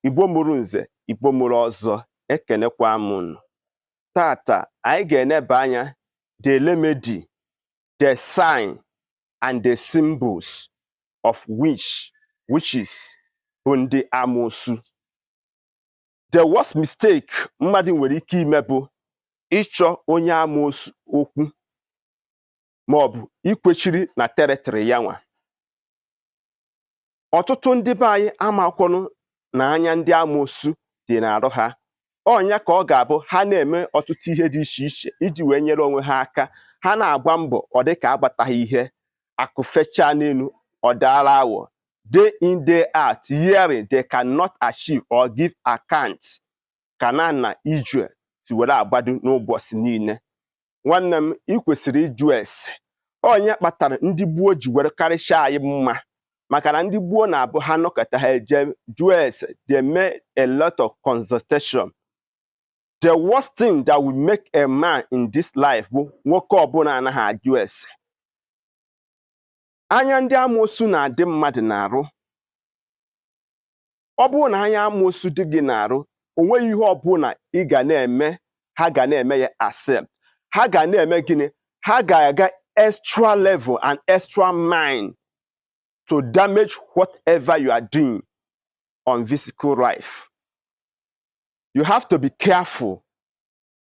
Igbo mụrụ nze Igbo mụrụ ọzọ ekenekwa m unu tata anyị ga-eneba anya the remedy the sign and the symbols of witches bụ ndị amoosu the worst mistake mmadụ nwere ike ime bụ ịchọ onye amoosu okwu ma ọ bụ ikwechiri na territory ya nwa ọtụtụ ndị be anyị amakwọrọ na anya ndị amoosu dị n'arụ ha ọ nya ka ọ ga-abụ ha na-eme ọtụtụ ihe dị iche iche iji wee nyere onwe ha aka ha na-agba mbọ ọ dị ka agbataghị ihe akụ fechaa n'elu ọ daara awọ day in day out yearly they cannot achieve or give account Kanan na Ijue si were agbado n'ụbọchị niile nwanne m ị kwesịrị ịjụ ese ọ nya kpatara ndị gboo ji were karịchaa anyị mma maka na ndị gboo na-abụ ha nọkata ha eje jụọ ese they make a lot of consultation the worst thing that will make a man in this life bụ nwoke ọbụla anaghị ajụ ese anya ndị amoosu na-adị mmadụ n'arụ ọ bụrụ na anya amoosu dị gị n'arụ o nweghị ihe ọbụla ị ga na-eme ha ga na-eme ya accept ha ga na-eme gịnị ha ga-aga extra level and extra mile to damage whatever you are doing on physical life you have to be careful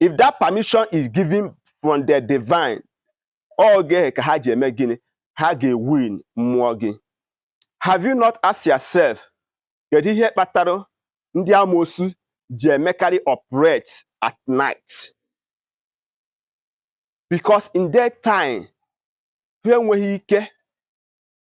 if that permission is given from the divine oge ahụ ka ha ji eme gịnị ha ga-ewin mmụọ gị have you not asked yourself kedu ihe kpatara ndị amoosu ji emekarị operate at night because in that time ahụ enweghị ike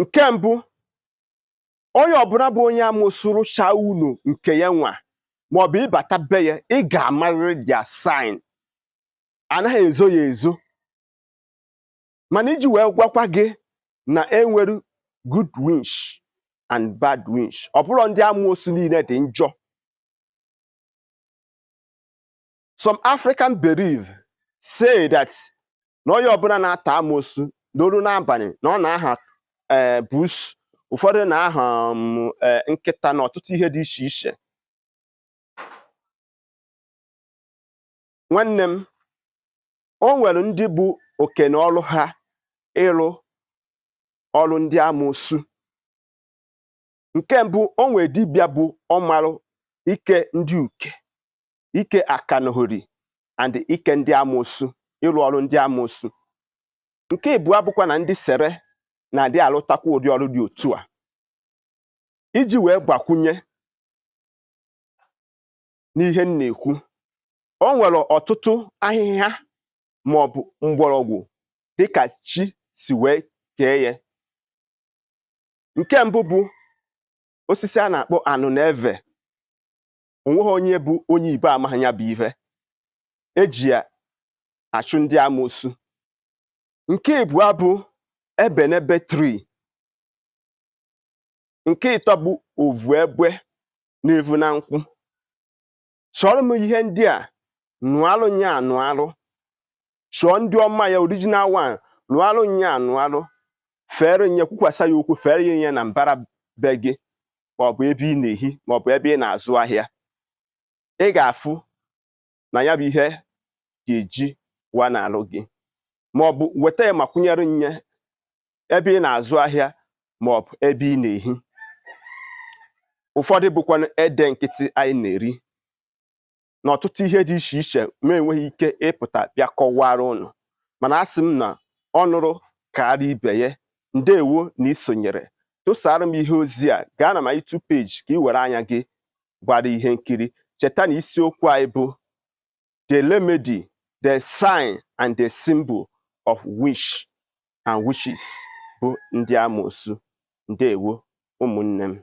nke mbụ onye ọbụla bụ onye amoosu rụchaa ụnọ nke ya nwa maọbụ ị bata be ya ị ga-amarịrị their sign anaghị ezo ya ezo mana iji wee gwakwa gị na enwere good winch and bad winch ọ bụrọ ndị amoosu niile dị njọ some African belief say that na onye ọbụla na-ata amoosu na o ruo n'abalị na ọ na-aha eh, buusu ụfọdụ na-aha um, eh, nkịta na ọtụtụ ihe dị iche iche nwanne m o nwere ndị bụ oke na ọrụ ha ịrụ ọrụ ndị amoosu nke mbụ o nwere dibịa bụ ọmarụ ike ndị uke ike akanahori and ike ndị amoosu ịrụ ọrụ ndị amoosu nke ịbụa bụkwa na ndị sere na-adị alụtakwa ụdị ọrụ dị otu a iji wee gbakwunye n'ihe m na-ekwu o nwere ọtụtụ ahịhịa ma ọ bụ mgbọrọgwụ dịka chi si wee kee ya nke mbụ bụ osisi a na-akpọ anụnụeve onweghị onye bụ onye Igbo amaghị ya bụ ihe eji ya achụ ndị amoosu nke ịbụa bụ ebenebe tree nke ịtọ bụ ovu egbe na-evu na nkwụ chọọrọ m ihe ndị a nụalụ nya anụalụ chọọ ndị ọma ya original one nụalụ nya anụalụ fere nye kwukwasa ya okwu fere nye na mbara be gị maọbụ ebe ị na-ehi maọbụ ebe ị na-azụ ahịa ị ga-afụ na ya bụ ihe ga-eji wa n'alụ gị maọbụ weta ya makwụnyere nye ebe ị na-azụ ahịa ma ọ bụ ebe ị na-ehi ụfọdụ bụkwanụ ede nkịtị anyị na-eri na ọtụtụ ihe dị iche iche m na-enweghị ike ịpụta bịa kọwara ụnụ mana a sị m na ọ nụrụ kaara ibe ya ndewo na isonyere tụsara m ihe ozi a gaa na my YouTube page ka ị were anya gị gbara ihe nkiri cheta na isiokwu anyị bụ the remedy, the sign and the symbol of witch and witches bụ ndị amoosu. Ndewo ụmụnne m.